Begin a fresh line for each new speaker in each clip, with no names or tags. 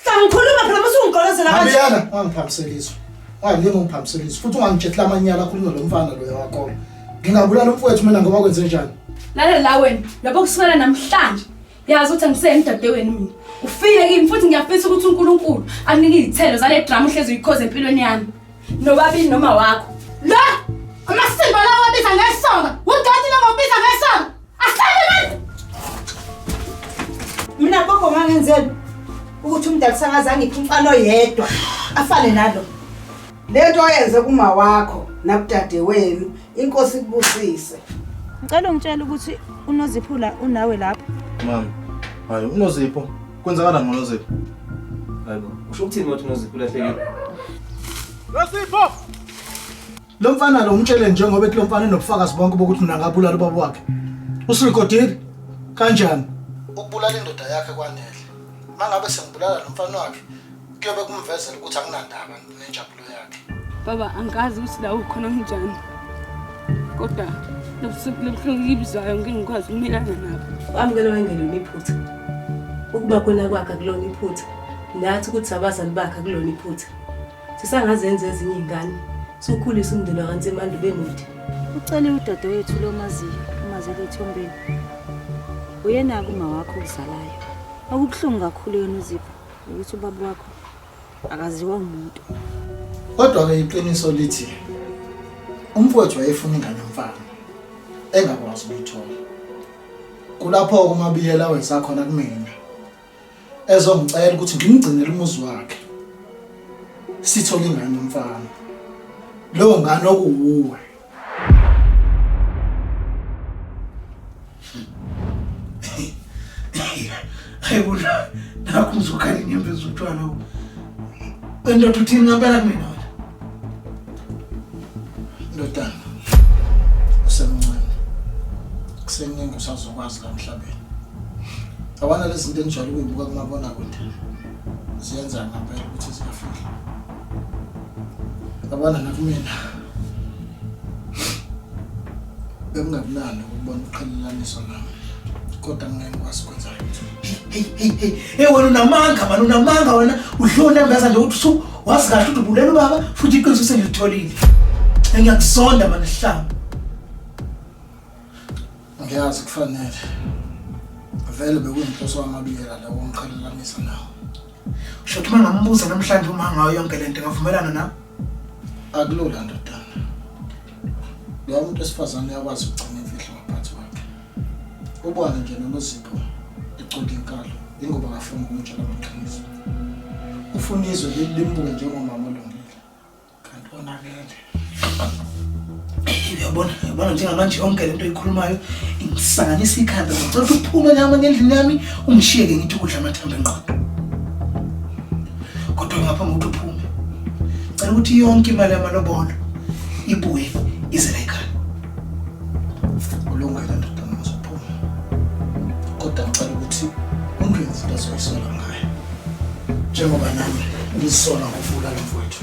Sangikhuluma phela mase ungigqolozela kanje. Abiyana
ungangiphambiselizwe. Ungalingi ungiphambiselizwe futhi ungangijethela amanyala akhulunywa lo mfana loya wakho. Ngingabulala umfowethu mina ngoba kwenze njani? Lalela la wena,
lapho kusukela namhlanje yazi ukuthi angiseyeni dadewenu mina. Ufike kimi futhi ngiyafisa ukuthi uNkulunkulu anike izithelo zale drama uhlezi uyikhoze empilweni yami. Nobabili noma wakho. La! Amasimba lawo abiza ngesonga. Udoti lawo abiza ngesonga.
Mina gogo ngangenzeni ukuthi umdala usakaza ngiphi umfana oyedwa afane nalo. Lento oyenze kuma wakho nakudade wenu inkosi kubusise. Ngicela ungitshela
ukuthi unoziphula unawe lapho. Mama,
hayi unozipho. Kwenzakalani ngonozipho? Hayibo,
usho ukuthini ukuthi unozipho ulahlekile?
Nosipho!
Lo mfana lo umtshele njengoba ethi lo mfana enobufakazi bonke bokuthi mina ngabulala ubaba wakhe. Usirekodile kanjani? Ukubulala indoda yakhe kwanele. Mangabe sengibulala lo mfana wakhe kuyobe kumvezela ukuthi anginandaba nenjabulo yakhe. Baba angazi
ukuthi la ukhona kunjani. Kodwa lobusuku lobuhlungu ngibizwayo ngeke ngikwazi ukumelana nabo. Wamukela wengelo
niphutha. Ukuba kona kwakhe kulona iphutha. Nathi ukuthi abazali bakhe kulona iphutha. Sisangazenza ezinye ingane. Sokhulisa umndeni wakansemande bemude. Ucele
udadewethu lomaziyo umazele ethombeni. Uyena kuma wakho uzalayo. Okubuhlungu kakhulu yona uzipha ukuthi ubaba wakho akaziwa umuntu. Kodwa
ke iqiniso lithi umfowethu wayefuna ingane mfana engakwazi ukuyithola. Kulapho umabiyela wenza khona kumina. ezongicela ukuthi ngimgcinele umuzi wakhe sithole ingane umfana leyo ngane okuwuwe hayi bona nakho uzokhala inyembezi utshwala endoda uthini ngampela mina wena ndodana usemncane kuseningi usazokwazi la mhlabeni Abana lezi zinto enijwayele ukuyibuka kumabona kude ziyenza ngempela ukuthi ziyafika. Abana nakumina bekungakunani ukubona uqhelelaniswa nami kodwa ngeke ngikwazi ukwenza lutho. Hey hey hey hey wena unamanga mani unamanga wena uhlona ngaza nje uthi su wazi kahle ukuthi ubulela ubaba futhi iqiniso sengilitholile. Ngiyakuzonda mani hlamba. Ngiyazi kufanele. Vele bekuyinhloso wamabiyela la womqhelelanisa nawo. Usho ukuthi mangambuza namhlanje uma ngayo yonke lento ngavumelana na? Akulula ndodana. Lo muntu esifazane yakwazi ukugcina imfihlo ngaphansi kwakhe. Ubona nje nomuzipho eqonda inkalo ingoba ngafuna ukumtshela amaqiniso. Ufuna izwe lilimbuke njengomama kanti konakele uyabona uyabona njengamanje yonke lento oyikhulumayo ingisanganisa ikhanda ngicela ukuthi uphume nyama ngendlini yami ungishiye ke ngithi ukudla amathambo enqondo kodwa ngaphambi kokuthi uphume cela ukuthi yonke imali yamalobolo ibuye ize la ekhaya ulungile ndoda mazophuma kodwa ngicela ukuthi ungenzi into ezoyisola ngayo njengoba nami ngizisola ngokuvula lo mfowethu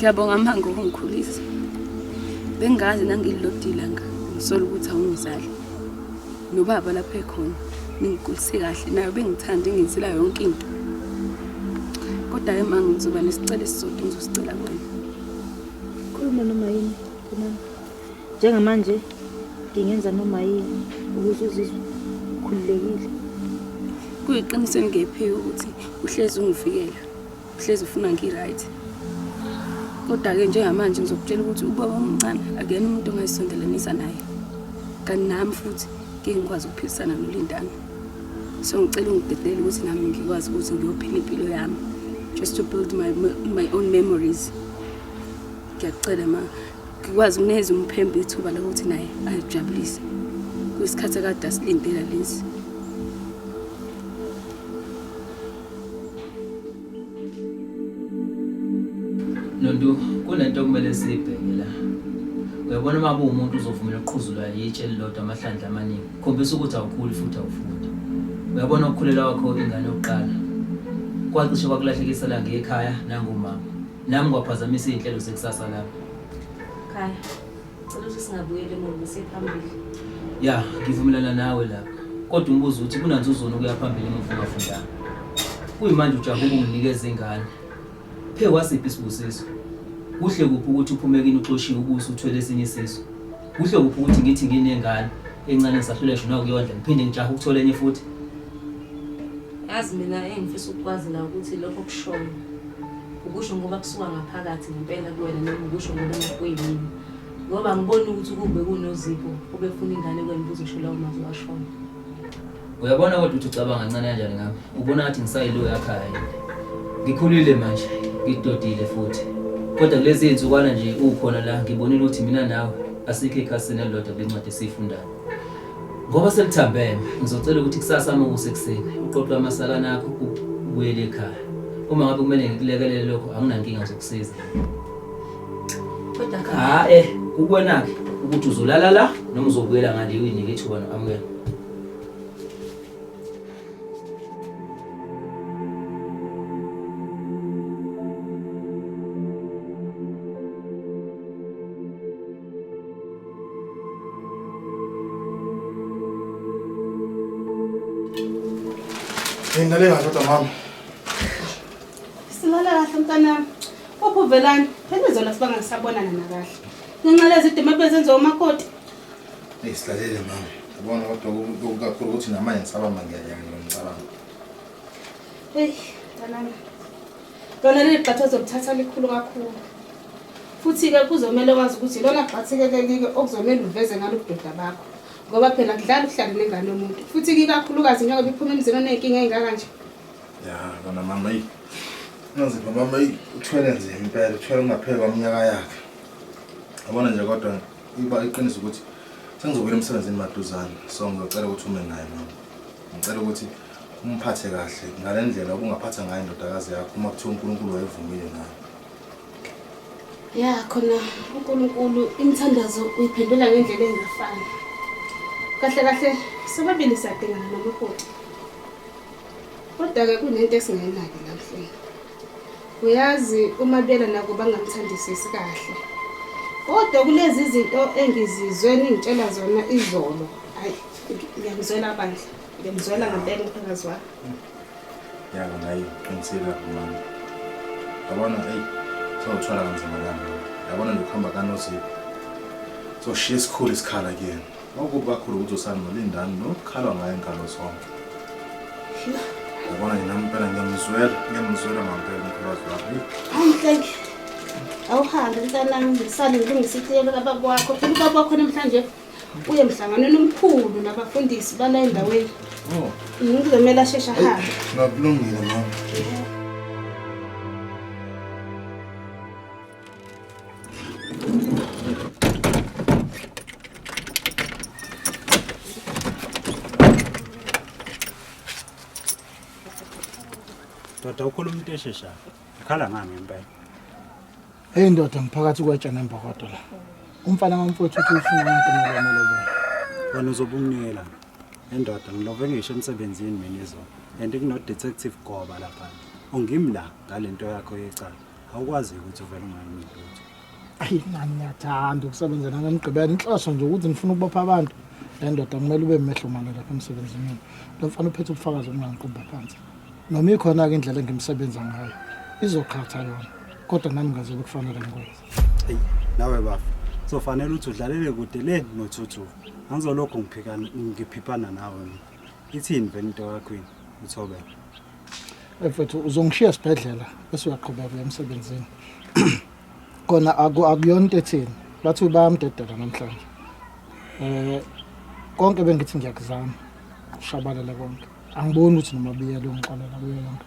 Ngiyabonga mama ngokungikhulisa. Bengazi nangililodila nga ngisola ukuthi awungizali. Nobaba lapha ekhona ningikulise kahle nayo bengithanda ingizila yonke into. Kodwa ke mama ngizoba nesicelo esisodwa ngizosicela kuwena.
Khuluma noma yini kumama. njengamanje ngingenza noma yini ukuze uzizwe ukhululekile
kuyiqiniso eningephiwe ukuthi uhlezi ungivikela uhlezi ufuna ngi-right kodwa-ke njengamanje ngizokutshela ukuthi ubaba omncane akuyena umuntu ongayisondelanisa naye kanti nami futhi ngeke ngikwazi ukuphilisana nolindana so ngicela ungidedele ukuthi nami ngikwazi ukuthi ngiyophila impilo yami just to build my, my own memories ngiyakucela ma ngikwazi ukuneza umphembe ithuba lokuthi naye ayijabulise kwisikhathi akade asilindela lesi
nontu kunento okumele siyibheke la uyabona uma kuwumuntu uzovumela uqhuzulwa yitshe elilodwa amahlandla amaningi khombisa ukuthi awukhuli futhi awufundi uyabona ukukhulelwa kwakho ingane yokuqala kwacishe kwakulahlekisela ngekhaya nangomama Nami kwaphazamisa izinhlelo zekusasa lami. Khaya, cela
ukuthi singabuyeli emuva siphambili. Ya,
ngivumelana nawe lapho. Kodwa umbuzo uthi kunanzuzona ukuya phambili emuva ungafundanga. Kuyimanje ujahe ukunginikeza ingane. Phe wasiphi isibusiso? Kuhle kuphi ukuthi uphume kini uxoshiwe ubuso uthwele esinye isiso? Kuhle kuphi ukuthi ngithi nginengane encane ngisahlulesho nawe kuyondla ngiphinde ngijahe ukuthola enye futhi?
Yazi mina engifisa ukukwazi la ukuthi lokho kushoyo. ukusho ngoba kusuka ngaphakathi ngempela kuwena noma ukusho ngoba nakuyimina ngoba ngibona ukuthi kube kunozipho obefuna ingane kwena ukuze usho lawo mazwi washona
uyabona kodwa ukuthi ucabanga kancane kanjani ngami ubona ngathi ngisayilo yakhaya ngikhulile manje ngidodile futhi kodwa kulezi iy'nsukwana nje ukhona la ngibonile ukuthi mina nawe asikho ekhasini elilodwa kule ncwadi esiyifundayo Ngoba sekuthambeme, ngizocela ukuthi kusasa uma kusekuseni uqoqe amasakana akho ubuyele ekhaya. Uma ngabe kumele ngikulekelele lokho anginankinga zokusiza.
Kodwa Ha eh kukwena-ke
ukuthi uzolala la noma uzobuyela ngale uyinike ithuba no-amukela.
Ngilale kahle kodwa mama.
Silala kahle mntanami. Uphi uvelani? Phela izolo sibanga ngisabonana nakahle. Ngenxa lezidima ebezenziwa umakoti. Eyi
silalele mama. Ubona kodwa okukakhulu ukuthi namanje ngisabamba ngiyanyanga ngicabanga.
Eyi mntanami. lona leli gxathu ozolithatha likhulu kakhulu futhi-ke kuzomele wazi ukuthi lona gxathi-ke leli-ke okuzomele uveze ngalo budoda bakho ngoba phela kudlala ukuhlale nengane yomuntu futhi kikakhulukazi njengoba iphuma emzini oney'nkinga ey'ngaka nje ya kona
mama yi nonzima mama yi uthwele nzima impela uthwele ungapheli kwaminyaka yakhe abona nje kodwa iba iqiniso ukuthi sengizobuyela emsebenzini maduzane so ngizocela ukuthi ume naye mama ngicela ukuthi umphathe kahle ngale ndlela ubungaphatha ngayo indodakazi yakho uma kuthiwa unkulunkulu wayevumile nayo
ya khona unkulunkulu imithandazo uyiphendula ngendlela engafani kahle kahle sobabili siyadingana nomakoti kodwa-ke kunento esingayinaki namhlanje uyazi uma bela nako bangamthandisisi kahle kodwa kulezi zinto engizizwe ningitshela zona izolo hayi ngiyamzwela bandla Ngimzwela
ngempela umphakazi wakho. Yabo ngayi qinisile lapho mama. Yabona hey sawuthwala kanzima lana. Yabona lokuhamba kanozipho. So shiya isikhulu isikhala kuyena. Okubi kakhulu ukuthi usani nolindani nokukhalwa ngayo inkalo zonke. Yabona yena impela ngiyamzwela, ngiyamzwela ngempela umphakazi wakho. Hayi thank you. Awuhambe mntanami ngisale ngilungisa
itiyelo kababa wakho. Phela ubaba wakho namhlanje uye emhlanganweni omkhulu nabafundisi bala endaweni oh. ngizomele asheshe ahambe ngakulungile mama
Doda ukhuluma into esheshayo. Ikhala ngami impela. Hey
ndoda ngiphakathi kwetsha nembokodo la. Umfana kamfowethu uthi ufuna umuntu molomolobo. Wena
uzobumnikela. Endoda ngilove ngisho emsebenzini mina izo. And kuno detective Goba lapha. Ungimi la ngalento yakho yecala. Awukwazi ukuthi uvele unganini lutho. Ayi nami
ngiyathanda ukusebenza nangemgqibelo. Inhloso nje ukuthi ngifuna ukubopha abantu. Le ndoda kumele ube mehlo mane lapha emsebenzini mina. Lo mfana uphethe ubufakazi obungangiqumba phansi. Noma ikhona-ke indlela engimsebenza ngayo. Izoqhatha yona. kodwa nami ngazi ukufanele ngikwenze hey nawe
bafo sofanele uthi udlalele kude le nothuthu angizolokhu ngiphikana ngiphiphana nawe mina ithini vele into yakho yini uthobela
mfethu uzongishiya esibhedlela bese uyaqhubeka emsebenzini kona akuyona into ethini bathi bayamdedela namhlanje um konke bengithi ngiyakuzama ushabalele konke angiboni ukuthi noma biyela ungixolela kuyo yonke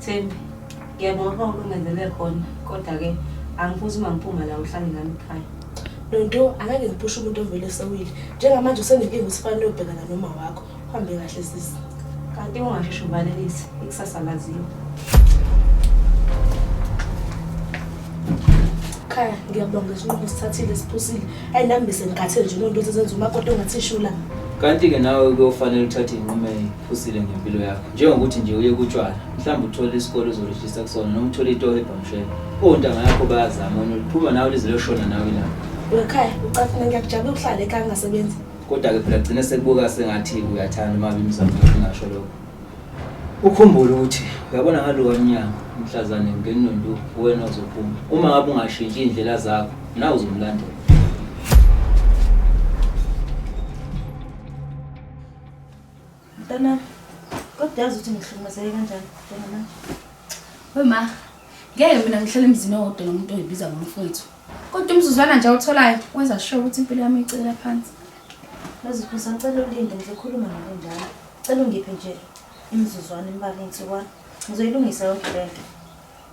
Thembi, ngiyabonga ukuba ukungenzelele khona kodwa-ke angifuni uma ngiphuma la uhlale nami ekhaya. Nonto,
angeke ngiphushe umuntu ovele esewile. Njengamanje usenenkinga ukuthi fanele uyobhekana noma wakho. Uhambe kahle sisi. Kanti ungasheshe
ubalelise, ikusasa laziwa.
Khaya, ngiyabonga isinqumo sithathile siphusile. Ayi nami bese ngikhathele nje nonto sezenza umakoti ongathi shula. Kanti-ke nawe
kuyofanele uthathe inqumo usile ngempilo yakho njengokuthi nje uye kutshwala mhlawumbe uthole isikole uzorejista kusona noma uthole itoho ebhamshela ontanga yakho bayazama wena uliphuma nawe lize liyoshona nawe la wekhaya ucafuna ngiyakujabula
ukuhlala ekhaya ungasebenzi kodwa-ke phela gcine
sekubuka sengathi uyathanda uma bimizamo yakho ungasho lokho ukhumbule ukuthi uyabona ngalowa mnyango umhlazane ngenondu wena uzophuma uma ngabe ungashintshi iy'ndlela zakho nawe uzomlandela
Mntana, kodwa yazi ukuthi ngihlukumezeke kanjani njengamanje.
We ma, ngeke mina ngihlele emzini owodwa nomuntu oyibiza ngomfowethu. Kodwa umzuzwana nje awutholayo wenza sure ukuthi impilo yami icekela phansi. Yazi
Phusa, ngicela ulinde ngizokhuluma nawe njalo. Cela ungiphe nje imizuzwana imbalwa insukwana. Ngizoyilungisa yonke le nto.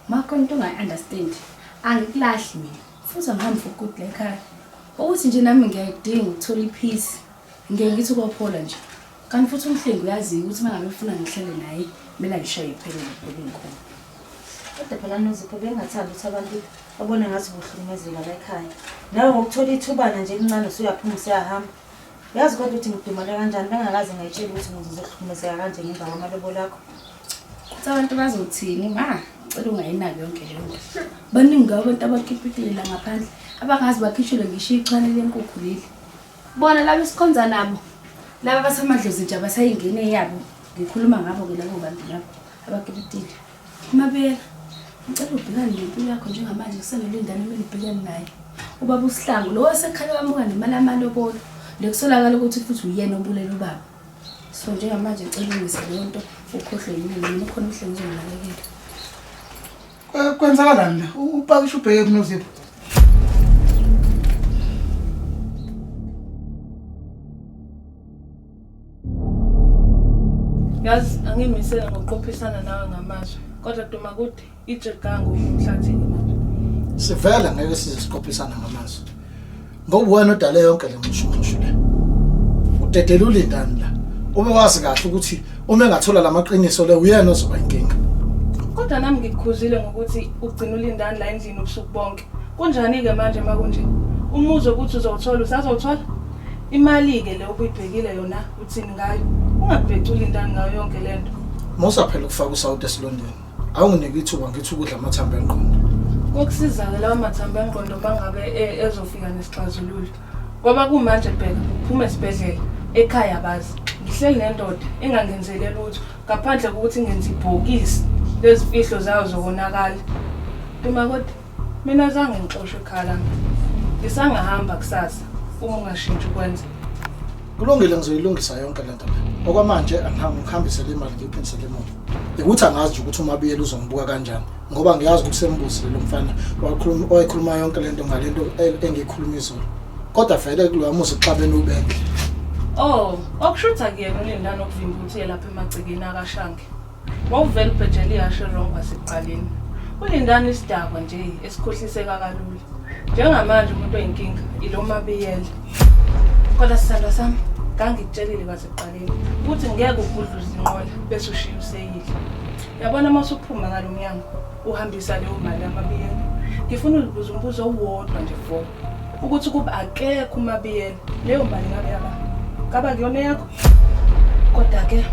Ma khona into
ongayi-understand. Angikulahli mina. Futhi angihambi for good la ekhaya. Ukuthi nje nami ngiyayidinga ukuthola i-peace. Ngeke ngithi ubophola nje. Kanti futhi umhlengi uyaziyo ukuthi mangabe ufuna ngihlele naye kumele ayishaye iphelele ubheke ngikhona. Kodwa
phela nozipho bengingathandi ukuthi abantu babone ngathi ubuhlukumezeka la ekhaya. Nawe ngokuthola ithubana nje elincane usuyaphuma usuyahamba. Yazi kodwa ukuthi ngidumale kanjani bengakaze ngayitshela ukuthi ngizohlukumezeka kanje ngemva kwamalobolo akho. Kuthi abantu
bazothini ma cela ungayinaki yonke leyo nto. Baningi ngabo abantu abakhiphikilela ngaphandle abangazi bakhishelwe ngisho ichwane lenkukhu leli. Bona laba esikhonza nabo laba basamadlozi nje abasayingene eyabo ngikhuluma ngabo-ke labo bantu labo abakipitile umabela ngicela ubhekane nempilo yakho njengamanje kusenele indane kumele ubhekane naye ubaba usihlangu lowo osekhale wamuka nemali yamalobolo nekusolakala ukuthi futhi uyena obulele ubaba so njengamanje ngicela ulungise leyo nto ukhohlwe yimina mina ukhona umhlengizonginakekela
Kwenzakalani la? Upakisha ubheke kunoZipho.
Yazi angimisele ngokuqophisana nawe ngamazwi. Kodwa duma kude ijegango emhlathini manje. Sivele
ngeke size siqophisana ngamazwi. Ngoba wena odale yonke le mshushu le. Udedela ulindani la. Ube wazi kahle ukuthi uma engathola lamaqiniso le uyena ozoba inkinga. Kodwa nami
ngikukhuzile ngokuthi ugcina ulindani la endlini ubusuku bonke. Kunjani ke manje makunje? Umuzi ukuthi uzowuthola usazowuthola? Imali ke le obuyibhekile yona uthini ngayo? Ungabheci ulindani ngayo yonke lento. Musa phela ukufaka
usawuti esilondeni. awunginike ithuba ngithi ukudla amathambo engqondo kokusizana
lawo mathambo engqondo uma ngabe e- ezofika nesixazululo ngoba kumanje bheka uphume esibhedlela ekhaya bazi ngihleli nendoda engangenzele lutho ngaphandle kokuthi ngenza ibhokisi lezifihlo zayo zokonakala uma kodwa Mina zange ngixoshe ekhaya lami. Ngisangahamba kusasa uma ungashintshi ukwenza. Kulungile
ngizoyilungisa yonke lento le. Okwamanje angihambi ngihambise le mali ngiyiphindise le mali. Ukuthi angazi nje ukuthi umabiyela uzongibuka kanjani ngoba ngiyazi ukuthi sembuzile lo mfana wakhuluma oyikhuluma yonke lento ngalento e- engiyikhuluma izolo. Kodwa vele kuloya muzi xabene ubenhle. Oh,
okushuthi akuyena ulindana okuvimba ukuthi uye lapha emagcekeni akashange. Wawuvele ubhejela ihashe wrong kwasekuqaleni. Ulindani isidakwa nje esikhohliseka kalula. Njengamanje umuntu oyinkinga ilo mabiyela. Kodwa sithandwa sami ngangikutshelile kwasekuqaleni ukuthi ngeke ugudle izinqola bese ushiya useyile. Yabona uma usuphuma ngalo mnyango uhambisa leyo mali yamabiyela. Ngifuna ulibuza umbuzo owodwa nje voko. ukuthi ukuba akekho umabiyela leyo mali ngabe yaba ngaba kuyona yakho kodwa ke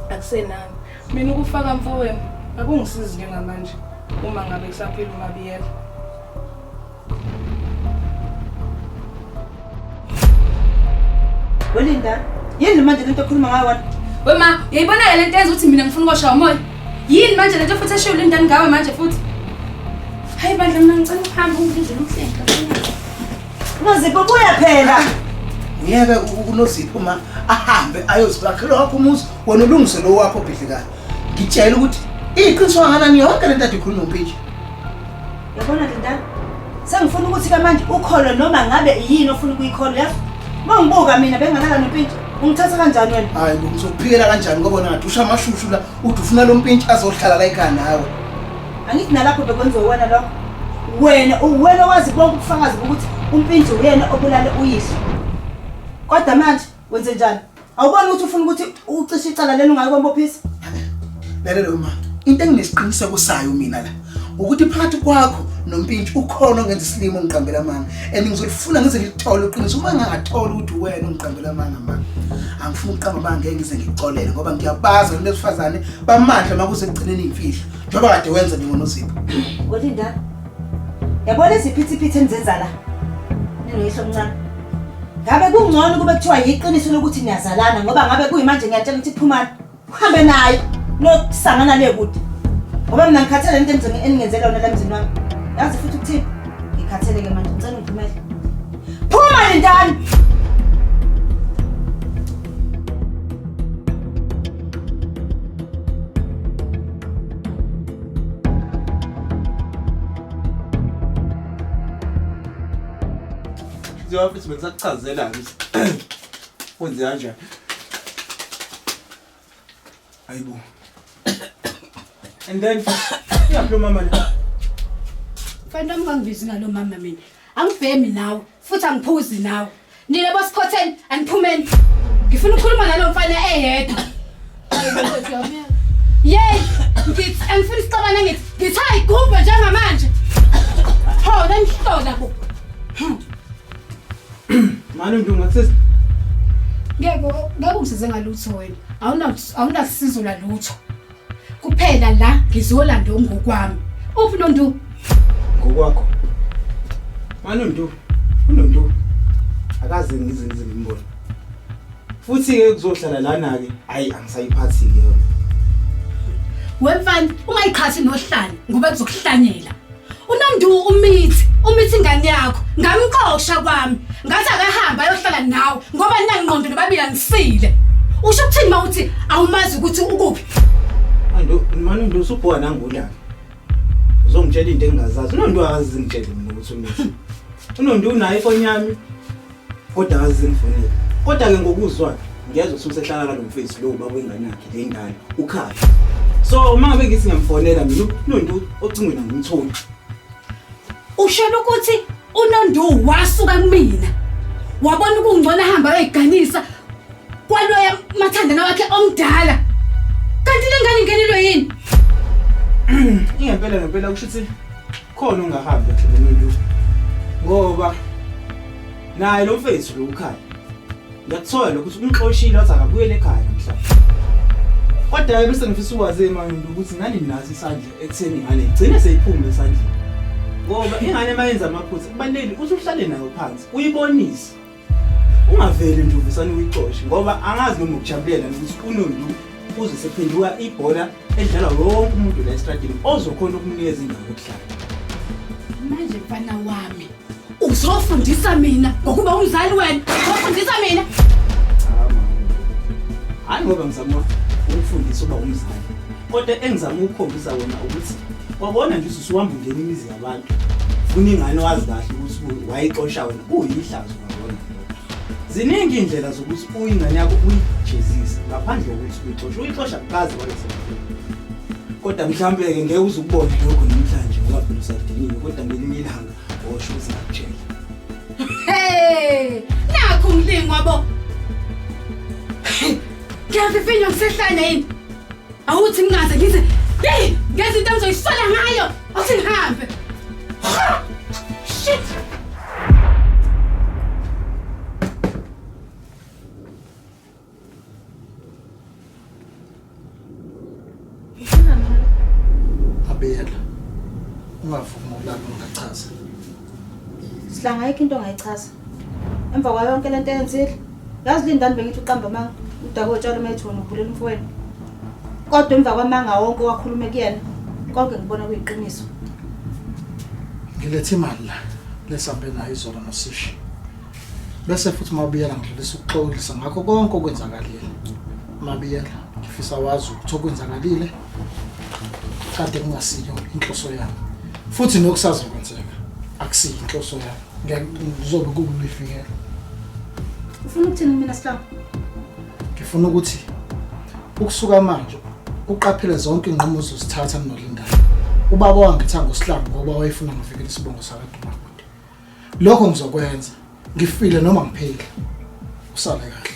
akusenani mina ukufaka mfowenu akungisizi njengamanje uma ngabe kusaphila umabiyela
welinda yini manje lento okhuluma ngayo wena wema yayibona-ke
le nto yenza ukuthi mina ngifuna ukwashaya umoya Yini manje lento futhi eshiyo lindani ngawe manje futhi? Hayi bandla mina ngicela ukuhamba ungidlule umhlehla.
Nozipho buya phela. Ngiyeke
uNozipho ma ahambe ayozibakhela wakho umuzi wena ulungise lo wakho bhidlikayo. Ngitshela ukuthi iqiniso kangakanani yonke lento adikhuluma umpintsha. Yabona
Linda, sengifuna ukuthi ke manje ukholo noma ngabe yini ofuna ukuyikholo yazi. Uma ngibuka mina benganaka nompintshi, ungithatha kanjani wena? Hayi bo, ngizokuphikela
kanjani ngoba wena ngathi usha amashushu la, uthi ufuna lo mpintshi azohlala la ekhaya nawe. Angithi
nalapho bekwenziwe wena lokho. Wena uwena wazi bonke ubufakazi bokuthi umpintshi uyena obulale uyihlo. Kodwa manje wenze njani? Awuboni ukuthi ufuna ukuthi ucishe icala lelo ngayo kwambophisa? Lalela
uma into enginesiqiniseko sayo mina la ukuthi phakathi kwakho nompintshi ukhona ongenza isilimo ngiqambela amanga and ngizolifuna ngize ngilithole uqiniso uma ngingatholi ukuthi uwena ungiqambela amanga mama angifuni ukuqamba amanga ngeke ngize ngikuxolele ngoba ngiyabazi abantu besifazane bamandla uma kuze ekugcineni imfihlo njengoba kade wenza njengonozipho kodwa indaba
Yabona iziphithiphithi enizenza la. Ninoyihlo omncane. Ngabe kungcono kube kuthiwa yiqiniso lokuthi niyazalana ngoba ngabe kuyimanje ngiyatshela ukuthi phumani. Uhambe naye nokusangana le kude. Ngoba mina ngikhathele into emzini eningenzela yona la mzini wami. Yazi futhi ukuthini? Ngikhathele ke manje ngicela ungivumele. Phuma lentana.
Njengoba futhi bengisakuchazela ukuthi kwenze kanjani. Hayibo. And then uyaphi lo mama la?
Fanele ungangibizi ngalo mama mina. Angibhemi nawe. futhi angiphuzi nawe nina bosikhotheni aniphumeni ngifuna ukukhuluma nalo mfana eyedwa yeyi ngithi angifuni sixabane ngithi ngithi ayigubhe njengamanje ho nanihlola bo
mani ndunga kusesi ngeke
ngeke ungisize ngalutho wena awunasizo lalutho Kuphela la ngizolanda ongokwami. Uphi nondu? Ngokwakho.
Manondu. Unondu. Akaze ngize ngize ngimbone. Futhi ke kuzohlala lana ke. Hayi angisayiphathi ke yona.
Wemfana uma iqhathi nohlanya ngoba kuzokuhlanyela. uNondu umithi umithi ingane yakho ngamqoqsha kwami ngathi akahamba ayohlala nawe ngoba ninangqondo nobabili anisile usho ukuthini uma uthi awumazi ukuthi ukuphi andu
mani ndu usubhowa nangula uzongitshela into engingazazi unondu akazi ngitshele mina ukuthi umithi unondu unayo ifoni yami kodwa akazi sengifonile kodwa-ke ngokuzwa ngiyazwa ukuthi usehlala kalo mfethu lowo baba wengane yakhe le ngane ukhaya so uma ngabe ngithi ngiyamfonela mina unontu ocingweni angimtholi
ushela ukuthi unondu wasuka kumina wabona ukungcono ahamba ayoyiganisa kwaloya mathandana wakhe omdala kanti le ngane ingenelwe yini ingempela
ngempela kusho ukuthi khona ungahambi kahle nomuntu ngoba naye lo mfethu lo ukhaya ngiyakuthola lokho ukuthi umxoshile wathi akabuyele ekhaya namhlanje kodwa-ke bese ngifisa ukwazi emayini ukuthi ngani nginaso isandla ekutheni ingane igcine seyiphume esandleni ngoba ingane uma yenza amaphutha kubalulekile ukuthi uhlale nayo phansi uyibonise ungaveli nje uvesane uyixoshe ngoba angazi noma ukujabulela ukuthi unondu uze sephenduka ibhola edlala wonke umuntu la estradini ozokhona ukunikeza indawo yokuhlala
manje mfana wami uzofundisa mina ngokuba umzali wena uzofundisa mina
hayi ngoba ngizama ukufundisa uba umzali kodwa engizama ukukhombisa wona ukuthi wabona nje ususuhamba ungena imizi abantu funa ingane wazi kahle ukuthi wayixosha wena kuyihlazo ngabona ziningi indlela zokuthi uyingane yakho uyijezise ngaphandle kokuthi uyixoshe uyixosha kukazi wayesemfuni kodwa mhlawumbe-ke ngeke uze ukubone lokho namhlanje ngoba phela usadiniwe kodwa ngelinye ilanga osho uzakutshela hey
nakho umlingo wabo ngiyafifinywa ngisehlane yini awuthi ngingaze ngize yeyi ngenza into engizoyisola ngayo
Athi ngihambe. Ha! Shit! Abela. Ungavumi ukulala ungachaza.
Sihlanga ayikho into ongayichaza. Emva kwayo yonke lento eyenzile, yazi lindani bengithi uqamba amanga, udake otshalo methuna ubhulela umfowenu. Kodwa emva kwamanga wonke owakhulume kuyena, konke ngibona kuyiqiniso.
Ngilethe imali la lesambe nayo izolo nosishi. Bese futhi mabiyela ngidlulisa ukuxolisa ngakho konke okwenzakalile. Mabiyela ngifisa wazi ukuthi okwenzakalile kade kungasiyo inhloso yami futhi nokusazokwenzeka akusiyo inhloso yami ngizobe kukulifikela
ufuna ukuthini mina sihlaba ngifuna
ukuthi ukusuka manje uqaphele zonke inqomo zozithatha mnolindayo ubaba wangitha ngosihlaba ngoba wayefuna ngivikele isibongo sakadumakude lokho ngizokwenza ngifile noma ngiphile usale kahle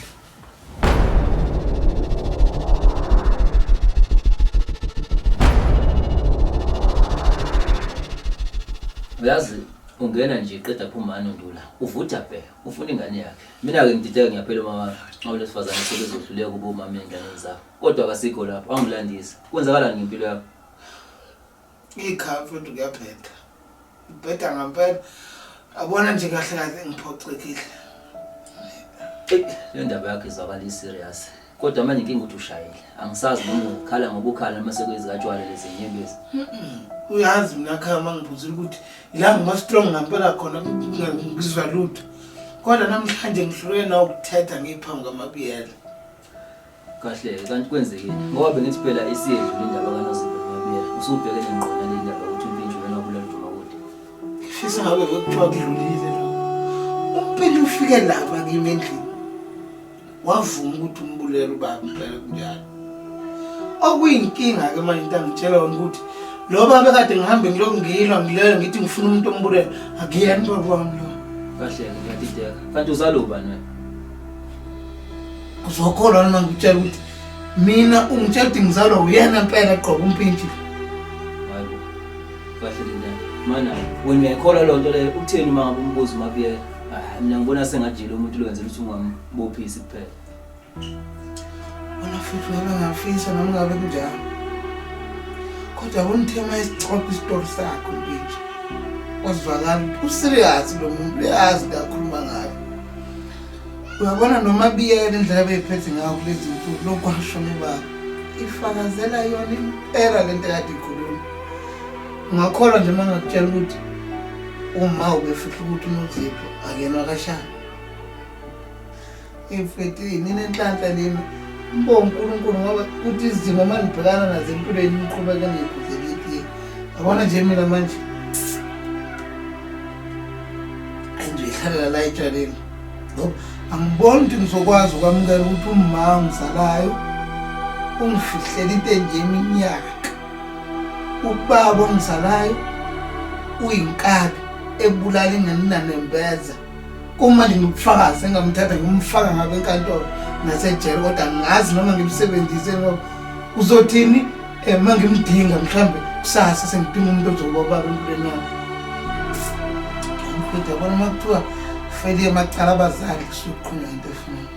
uyazi ungena nje qeda phumani undula uvutha bhe ufuna ingane yakhe mina-ke ngidideka ngiyaphela uma awulesifazane sebezohluleka uba umama ey'nganeni zakho kodwa kasikho lapho angilandisa kwenzakalani ngempilo yakho
Ikhaya mfethu kuyabheda. Ibheda ngampela. Abona nje kahle kahle ngiphoxekile.
Le ndaba yakhe izwakala i-serious. Kodwa manje inkinga ukuthi ushayile. Angisazi noma ukhala ngoba ukhala noma sekuyizikatshwala lezi nyembezi. Uyazi
mina khaya uma ngibuzile ukuthi la ngima-strong ngampela khona ngizwa lutho. Kodwa namhlanje ngihlulwe nawukuthetha ngiphambi kwamabiyela.
Kahle kanti kwenzekile ngoba bengithi phela isiyedlula indaba kanoZipho noMabiyela usubheke nengqondo le ndaba ukuthi umpintshu lona wabulala uDumakude. Ngifisa ngabe
bekuthiwa kudlulile lo. Umpintshu ufike lapha kimi endlini wavuma ukuthi umbulele ubaba impela kunjalo. Okuyinkinga ke manje into angitshela yona ukuthi lo baba kade ngihambe ngilokhu ngilwa ngilele ngithi ngifuna umuntu ombulele akuyena ubaba wami lo. Kahle
ngiyadideka kanti uzalubani wena?
uzokholwa noma ngikutshela ukuthi mina ungitshela ukuthi ngizalwa uyena mpela gqoka umpintshi
kahle linda mana wena uyayikholwa loo nto leyo ukutheni uma ngabe umbuzo umabiyela hayi mina ngibona sengajile umuntu lo wenzela ukuthi ungambophisi kuphela wena
futhi wena ngafisa noma ngabe kunjalo kodwa kunithema isixoxo isitori sakho mpintshi wazwakala userious lo muntu uyazi kakhuluma ngayo uyabona noma biyela indlela beyiphethe ngayo kulezi nsuku lokwasho nobaba ifakazela yona impela le nto kade ikhuluma ngakholwa nje uma ngakutshela ukuthi uma ubefihla ukuthi unozipho akenwa kashana imfethi ninenhlanhla nina mbo unkulunkulu ngoba kuthi izimo uma nibhekana nazo empilweni niqhubeke niyikhuzelekile yabona nje mina manje ayizoyihlalela la etshaleni ngoba angiboni ukuthi ngizokwazi ukwamukela ukuthi umma ongizalayo ungifihlele into enje iminyaka ubaba ongizalayo uyinkabi ebulala ingane nanembeza uma ndinobufakazi engamthatha ngimfaka ngabo enkantolo nasejele kodwa ngazi noma ngimsebenzise ngoba uzothini um eh, ma ngimdinga mhlawumbe kusasa sengidinga umuntu ozobobaba empilweni yami mfethu yabona uma kuthiwa feliye macala abazali kusuke kuqhunywa into efunani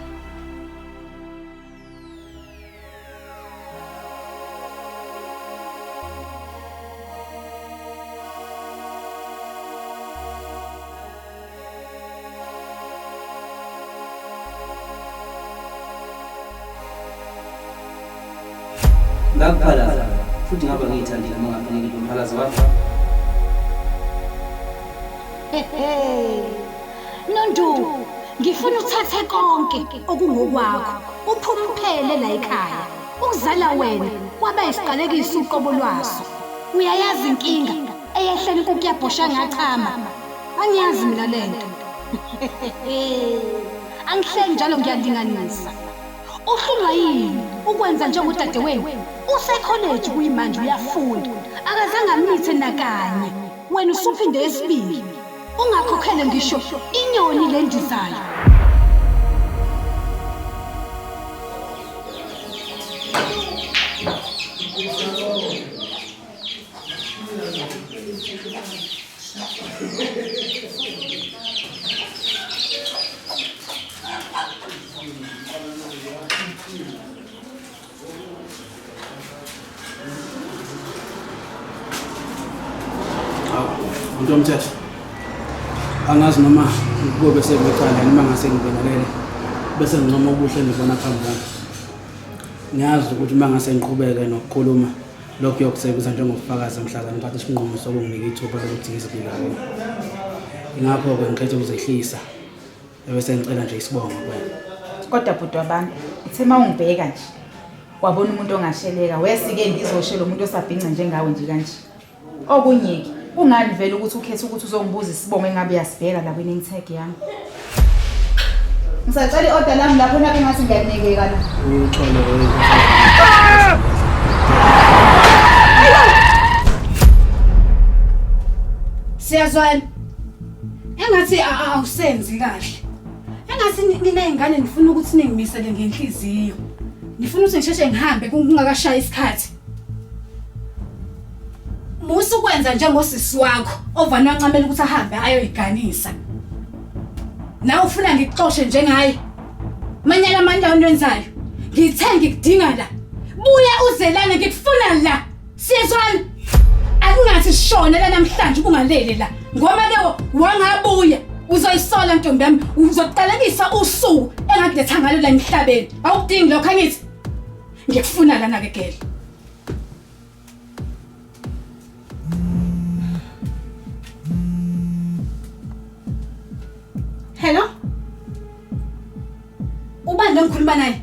ngakuphalaza futhi ngaba ngiyithandile uma ngafanele kumphalaza wakho
Nondu, ngifuna uthathe konke okungokwakho, uphume uphele la ekhaya. Ukuzala wena kwaba isiqalekiso uqobo lwaso. Uyayazi inkinga eyehlele inkukhu yabhosha ngachama. Angiyazi mina le nto. Angihleki njalo ngiyalinganisa. Uhlulwa yini ukwenza njengodadewenu? Usekholeji kuyimanje uyafunda. Akazange amithe nakanye. Wena usuphinde esibili. Ungakhokhele ngisho inyoni le ndizayo.
Mntu omthetho, angazi noma kuyobe sengicala noma ngase ngibenelele bese
ngincoma ubuhle endibona phambi kwami. Ngiyazi ukuthi uma ngase ngiqhubeke nokukhuluma lokho kuyokusebenza njengobufakazi emhlabeni ngithatha isinqumo sokunginika ithuba lokuthi ngizibike kubo. Ingakho-ke ngikhethe ukuzehlisa. Ebese ngicela nje isibongo kuwena. Kodwa bhuti
wabantu, uthe uma ungibheka nje wabona umuntu ongasheleka wesike ngizoshela umuntu osabhinca njengawe nje kanje. Okunyeke, kungani vele ukuthi ukhethe ukuthi uzongibuza isibongo engabe uyasibheka la kwining tag yami? Ngisacela i-order lami lapho nakho ngathi ngiyakunekeka la.
Uyixole wewe.
Siyazwana. Engathi awusenzi kahle. Engathi nina ingane nifuna ukuthi ningimisele ngenhliziyo. Nifuna ukuthi ngisheshe ngihambe kungakashayi isikhathi. Musa ukwenza njengosisi wakho ovana wancamela ukuthi ahambe ayoyiganisa. Nawe ufuna ngikuxoshe njengaye. Manyala amandla onwenzayo. Ngithe ngikudinga la. Buya uzelane ngikufuna la. Siyezwana. Akungathi shona la namhlanje ubungalele la. Ngoba ke wangabuya uzoyisola ntombi yami uzoqalekisa usuku engakuletha ngalo la emhlabeni. Awukudingi lokho angithi. Ngikufuna lana ke gele. Hello? Ubani lo ngikhuluma naye?